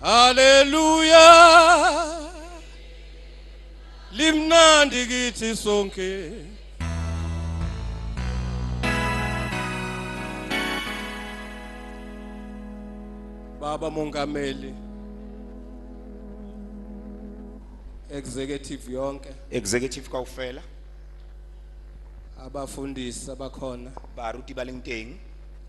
Haleluya Limnandi kithi sonke Baba Mongameli executive yonke executive kaufela abafundisi abakhona baruti baleng teng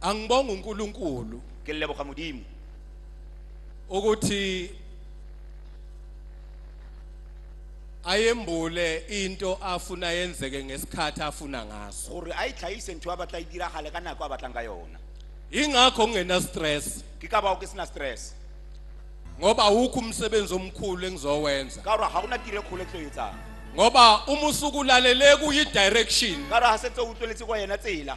Angibonga uNkulunkulu ke leboga modimo ukuthi ayembule into afuna yenzeke ngesikhathi afuna ngaso gore a e tlhagise ntho a batla e diragale ka nako a batlang ka yona ingakho ngingena stress ke ka bao ke sena stress ngoba awukho umsebenzi omkhulu engizowenza ka gore ga gona tiro e kgolo e tlo etsang ngoba uma usukulalele kuyi-direction ka gore ga setse o utlweletse kwa yena tsela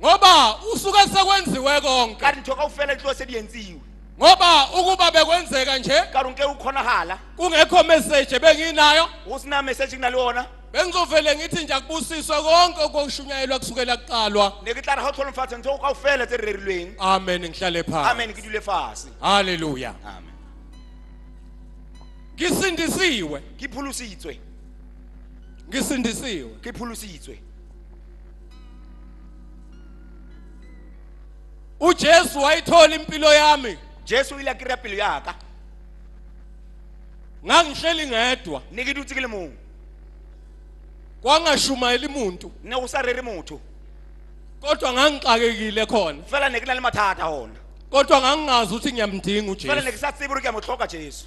ngoba usuke sekwenziwe konke ka ri ntho ka u fela tliwa se di yentsiwe ngoba ukuba bekwenzeka nje ka ri nke u kgonahala kungekho message benginayo go se na message ke na le ona bengizovele ngithi nje akubusiswe konke okushunyayelwa kusukela kuqalwa ne ke tla re ga o tlholomfatsa ntho ka o fela tse re rerilweng amen ngihlale phansi amen ke dule fase haleluya amen ngisindisiwe ke pholositswe ngisindisiwe ke pholositswe ujesu wayithola impilo yami jesu o ile a kry-a pelo yaka ngangihleli ngedwa ne ke dutse ke le mong kwangashumayeli muntu ne go sa rere motho kodwa ngangixakekile khona fela ne ke na le mathata gona kodwa ngangingazi ukuthi ngiyamdinga fela ne ujesu ke sa tsebe gore ke a mo tlhoka jesu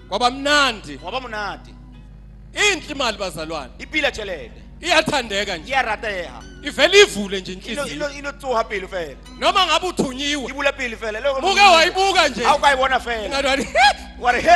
kwabamnandi waba munadi inhle imali bazalwane ipila tshelede iyathandeka nje iyarateha ivele ivule nje ino inhliziyo ino ino tsuha pili fela noma ngabe uthunyiwe ibula pili fela loko muke wayibuka nje awu kayibona fela Ngathi wani, wari he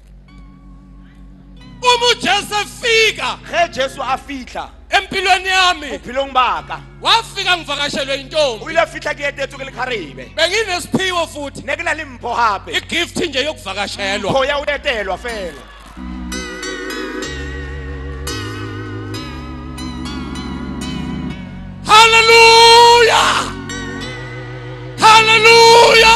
uma ujesu efika ge jesu a fitlha empilweni yami bophelong baka wafika ngivakashelwe yintombi o ile a fitlha ke etetswe ke lekgarebe benginesiphiwo futhi ne ke na le mpho gape igift nje yokuvakashelwa mpho ya o etelwa fela haleluya haleluya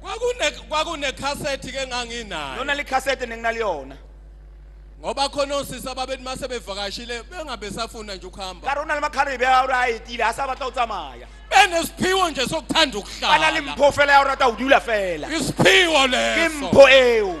kwakune kwakune cassette ke nganginayo lona likhasete nenginaliyona ngoba khona osisi ababethi mase bevakashile bengabe safuna nje ukuhamba ka rona le makhalebe be a ore a etile a sa batla go tsamaya benesiphiwo nje sokuthanda ba na le ukuhlala mpho fela ya o rata go dula fela isiphiwo ke leso mpho eo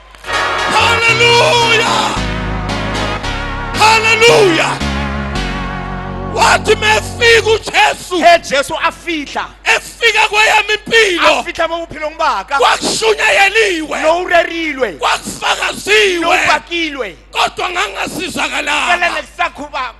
Haleluya! Haleluya! Wathi mefika uJesu, he Jesu afihla efika kweyami impilo afihla bokuphila ngibaka kwakushunyayeliwe nowurerilwe kwakufakaziwe nobhakilwe kodwa ngangasizakala ngale kusakhuba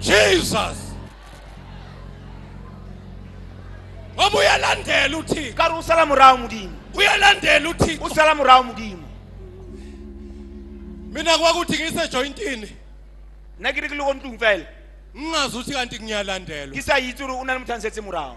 Jesus ngoba uyalandela uthixo ka re o sala morago modimo uyalandela uthixo o sala morago modimo mina kwakuthi ngisejoyintini nna ke re ke le ko ntlong fela ngingazi ukuthi kanti ngiyalandelwa ke sa itse gore o na le motho a nsetse morago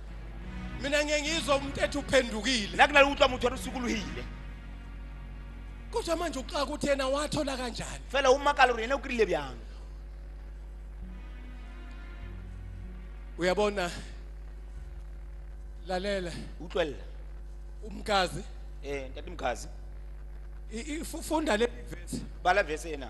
mina ngiye ngizwa umuntu ethi uphendukile nna ke na le utlwa motho a re sokologile kodwa manje uxaka ukuthi yena wathola kanjani fela o makala gore ene o kry-ile bjang uyabona lalela utlwelela umkazi um ntate mokhazi i- i- fu- funda le verse bala vese ena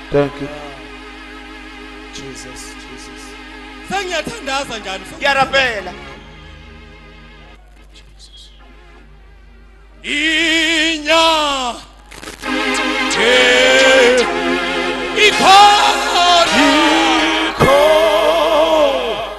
Thank you. Jesus, Jesus. Sengiyathandaza njani? Ngiyarapela. Jesus. Inya. Hey. Ikhona.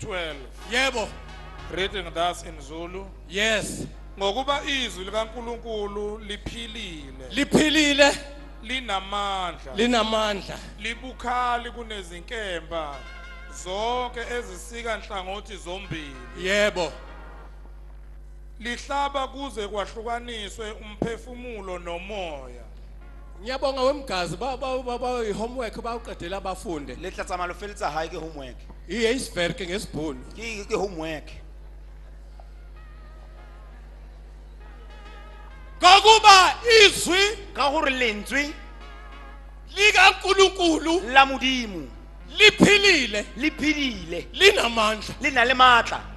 12. Yebo. Reading thus in Zulu. Yes. Ngokuba izwi likaNkuluNkulu liphilile. Liphilile. Linamandla. Linamandla. Libukhali kunezinkemba zonke ezisika nhlangothi zombili. Yebo. Lihlaba kuze kwahlukaniswe umphefumulo nomoya. Ngiyabonga wemgazi ba ba ba homework bawuqedela abafunde. Le tla tsamalo felitsa hae ke homework. Iye isverke ngesibhunu. Ki ki homework. Ngokuba izwi ka gore lentswe lika Nkulunkulu la modimo liphilile liphilile linamandla le na le maatla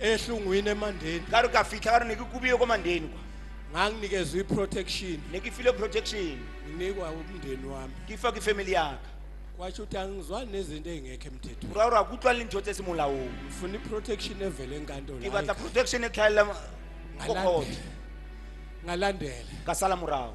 ehlungwini emandeni ka re ka fitlha ka re ne ke kubile ko mandeni kwa nganginikezwa i-protection ne ke file protection nginikwa umndeni wami ke fa ke family yaka kwasho ukuthi angizwani nezinto ey'ngekho emthethweni ura ura kutlwa le ntho tse se molaong ngifuna i-protection evele enkantolo ke batla protection e tlhaelela ko Ngalande- kgotho ngalandela ka sala morago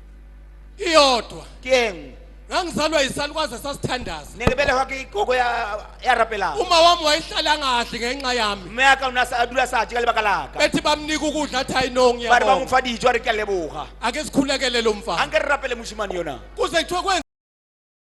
iyodwa keng ngangizalwa yisalukazi esasithandaza ne ke belegwa ke gogo ya ya rapela uma wami wayihlala kahle ngenxa yami mme ya ka o ne a sa- a dula sa je ka lebaka la ka bethi bamnika ukudla athi hayi no ba re ba mo ngiyabonga fa dijo a re ke a leboga ake sikhulekele lo a mfana nke re rapele mosimane yona kuze kuthiwe kwenza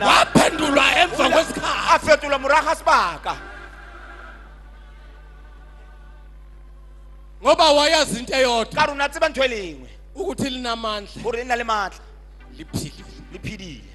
waphendulwa emva kwesikhathi a fetola morago ga sebaka ngoba wayazi into eyodwa ka rona tseba ntho e lengwe ukuthi linamandla gore le nna le maatla liphilile le phedile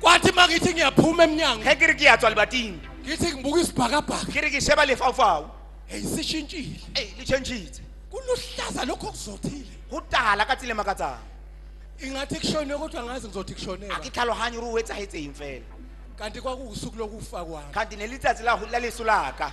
kwathi uma ngithi ngiyaphuma emnyango ge ke re ke ya tswa lebating ngithi ngibuka isibhakabhaka ke re ke sheba lefaufau eyi sishintshile ei le changitse kuluhlaza lokho okuzothile go tala ka tsile makatsang ingathi kushone kodwa ngazi ngizothi kushonela a ke tlhaloganye gore o etsagetseng fela kanti kwakuwusuku lokufa kwami kganti ne letsatsi la la leso laka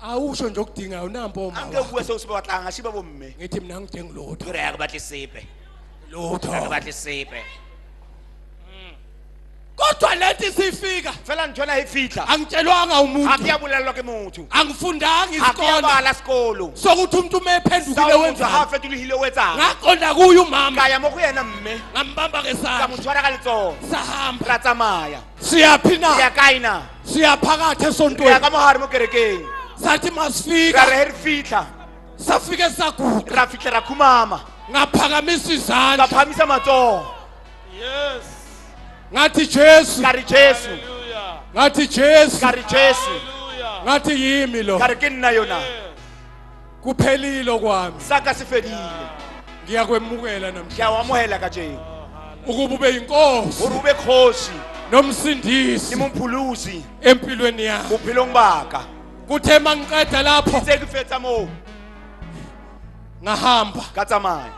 awusho nje okudingayo nampo uma angeke kuwe sewusibe watlanga ngashiba bomme ngithi mina ngidinga lutho ngireka kubathi sibe lutho kubathi sibe kodwa lento isifika fela ngithola ifihla angitshelwanga umuntu akuyabulalwa ke muthu angifundanga isikole akuyabala sikolo sokuthi umuntu uma ephendukile wenza hafe tulihile wenzanga ngaqonda kuye umama kaya mo kuyena mme ngambamba ngesandla ngamthwala ka letsoho sahamba ra tsamaya siyaphi na ya kae na siyaphakathi re ya esontweni ka mogare mo kerekeng sathi ra re masifika he re fitlha safike saguqa ra fitlha ra khumama ngaphakamisa ka izandla phamisa matsogo Yes. ngathi jesu ka re jesu Hallelujah. ngathi jesu ka re jesu Hallelujah. ngathi yimi lo ka re ke nna yona kuphelile okwami saka sifedile ngiyakwemukela namhlanje ngiyawamuhela kajeni ukuba ube yinkosi gore ube kgosi nomsindisi ke mompholosi empilweni yakho bophelong baka kuthe mangiqeda lapho tse ke fetsa moo ngahamba ka tsamaya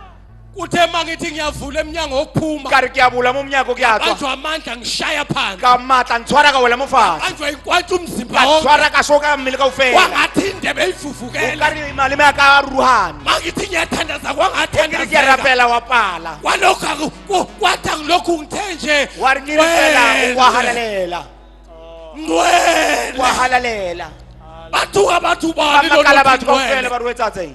kuthe uma ngithi ngiyavula emnyango wokuphuma ka re ke a bula mo monyako ke a tswa banjwa amandla ngishaya phandle ka matla ntshwara ka wela mo fatshe banjwa inkwantsha umzimba ka wonke tshwara ka shoka ka mmele ka ufela kwangathi indebe o ka ifufukela re maleme a ka ruhana uma ngithi ngiyathandaza e ke re ke a kwangathandazela rapela wa pala kwalokhu aku- kwathi angilokhu ngithe nje wa re ke re fela o kwa halalela ngcwele kwa halalela bathuka bathu bani ba makala batho ka ufela ba ruetsatseng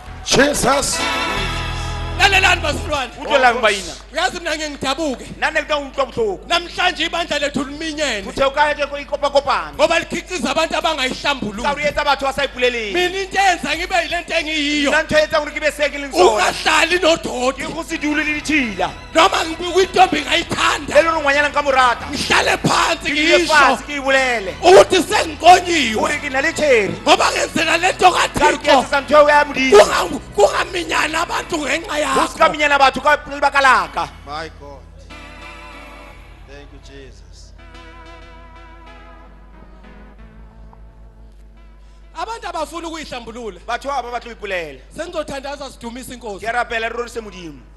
Jesus. lalelani bazalwane Utlwe lang ba ina. uyazi mina ngeke ngidabuke Nane kuta utlwa bohloko. namhlanje ibandla lethu liminyene Uthe ukaya ke ko ikopa kopana. ngoba likhiqiza abantu Sa re abangayihlambululi etsa batho ba sa ipuleleng. mina into eyenza ngibe yile nto engiyiyo Nna ntho e etsang hore ke be se ke leng sona. ungahlali Ke nodoti go se dule le ditšhila. noma ngibuka intombi ngayithanda le lona ngwanyana nka morata ngihlale phansi ngisho ke ibulele ukuthi sengiqonyiwe uri ke na le tsheri ngoba ngenzela le nto kathixo kungaminyana abantu ngenxa yakho usikaminyana batho ka lebaka laka my god thank you jesus abantu abafuna ukuyihlambulula batho aba batlo ipulela sengizothandaza sidumisa inkosi ke rapela rirorisa modimo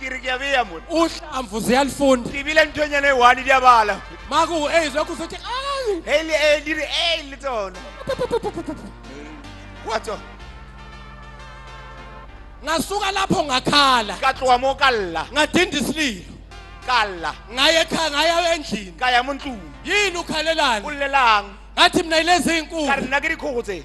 ke re ke a beya mone uhlamvu ziyalifunda ke bile nthonyana e one di a bala maku e zwa ku sothi ai e le e di re e le tsona wa tswa ngasuka lapho ngakhala ka tloha mo ka lla ngadinda isililo ka lla ngaye ekhaya ngaya endlini ka ya mo ntlong yini ukhalelani ulelang ngathi mina ilezi ka re inkulu nna ke dikgogo tse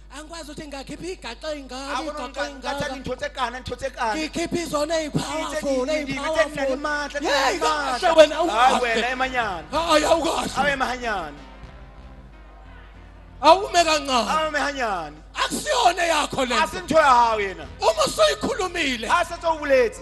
angikwazi ukuthi ngingakhipha igaxa ey'ngaka igaxa ngathi ey'ngaka angithothe kana ngithothe kana ngikhipha izona ey'powerful Ngithe- ngi- ngi- ngithi nginamandla, ey'powerful yeyi nginamandla. kahle wena hayi wena awukahle emanyana hayi awukahle awe mahanyana awume kancane awe mahanyana akusiyona yakho le asinthoya hawo yena uma usuyikhulumile asethe ubuletsi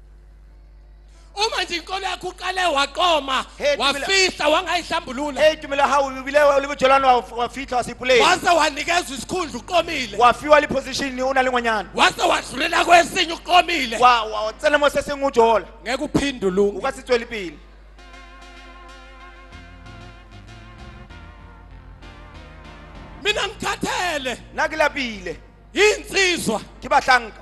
uma nje inkolo yakho uqale waqoma Hey, Tumela. wafihla wangayihlambulula Hey Tumela how you bile wa libo jolano wa wa fitla wa sipule. wase wanikezwa isikhundla uqomile Wa fiwa li position ni una lengwanyana. wase wadlulela kwesinye uqomile Wa wa tsena mo se sengu jola. ngeke uphinde ulunge Uka se tsweli pele. mina ngithathele Na ke lapile. insizwa Ke bahlanka.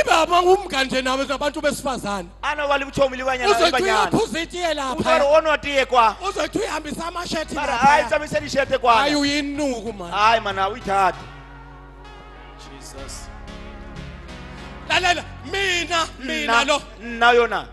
ibaba umga nje nawe zabantu besifazane ana wali buchomi likwanyana uzothi ibanyana uyaphuza itiye utwari lapha onwa tiye kwa uzothi uyihambisa amashethi mara hayi lapha tsamiseni ishete hayi kwana uyinuku mani hayi mana uyithathe jesus lalela mina mina nna lo nna yona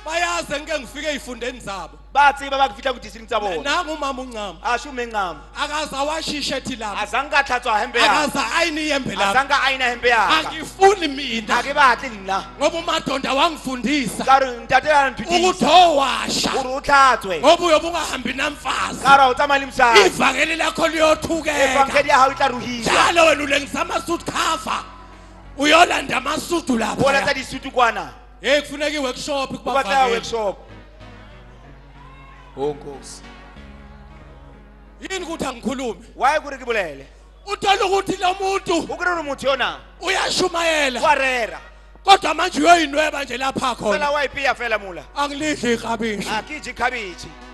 bayaze ngike ngifike ey'fundeni zabo bathi babakufihla kudisini tsa bona nangu umama uncama asho uma encama akaze awashishe ethi lami azange athathwa hembe yakhe akaze ayini iyembe lami azange ayina hembe yakhe angifuni mina ake bathi ngila ngoba umadonda wangifundisa karo ngitatelana ukuthi ngithithisa owasha uri uthathwe ngoba uyobe ungahambi namfazi karo awutsamali msana ivangeli lakho liyothukeka evangeli ya hao itla ruhisa njalo wena ulengisa amasuit cover uyolanda amasudu lapha bola tsa disutu kwana Hey kufuneka iworkshop Uba tla kubavakeli. workshop. Oh Nkosi. Yini ukuthi angikhulume? Why kuri ke bolele? Uthola ukuthi lo muntu O kuri uri motho yona. uyashumayela Wa rera. kodwa manje uyoyinweba nje lapha Fela khona. wa ipiya fela mula. Angilidli ikhabisha. A ke je cabbage.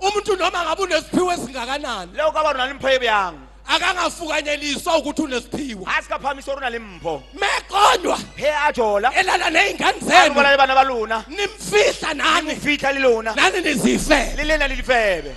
umuntu noma ngabe unesiphiwo esingakanani leo ka bana le mpho e bjang akangafukanyeliswa ukuthi unesiphiwo a se ka phahamisa gore o na le mpho meqonywa he a jola elala nezingane a zenu bola le bana ba lona nimfihla a mo nani fitlha le lona nani nizifele le lena le difebe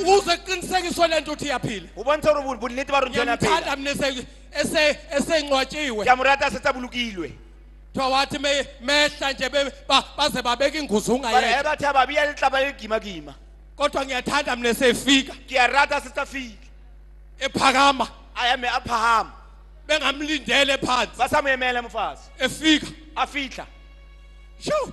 ukuze kuqinisekiswe lento ukuthi iyaphila o bontsha gore bonnete ba rona jona phela ngiyamthanda mina ese esengcwatshiwe ke a mo rata se tsa bolokilwe kuthiwa wathi me- mehla nje be- ba- baze babeka inguzo bare ge ungayeka bathe ababi ya letlaba le gimakima kodwa ngiyathanda mina esefika ke a rata se tsa file ephakama a ya me a phahama bengamlindele phansi ba sa mo emele mofatshe efika a fitlha sho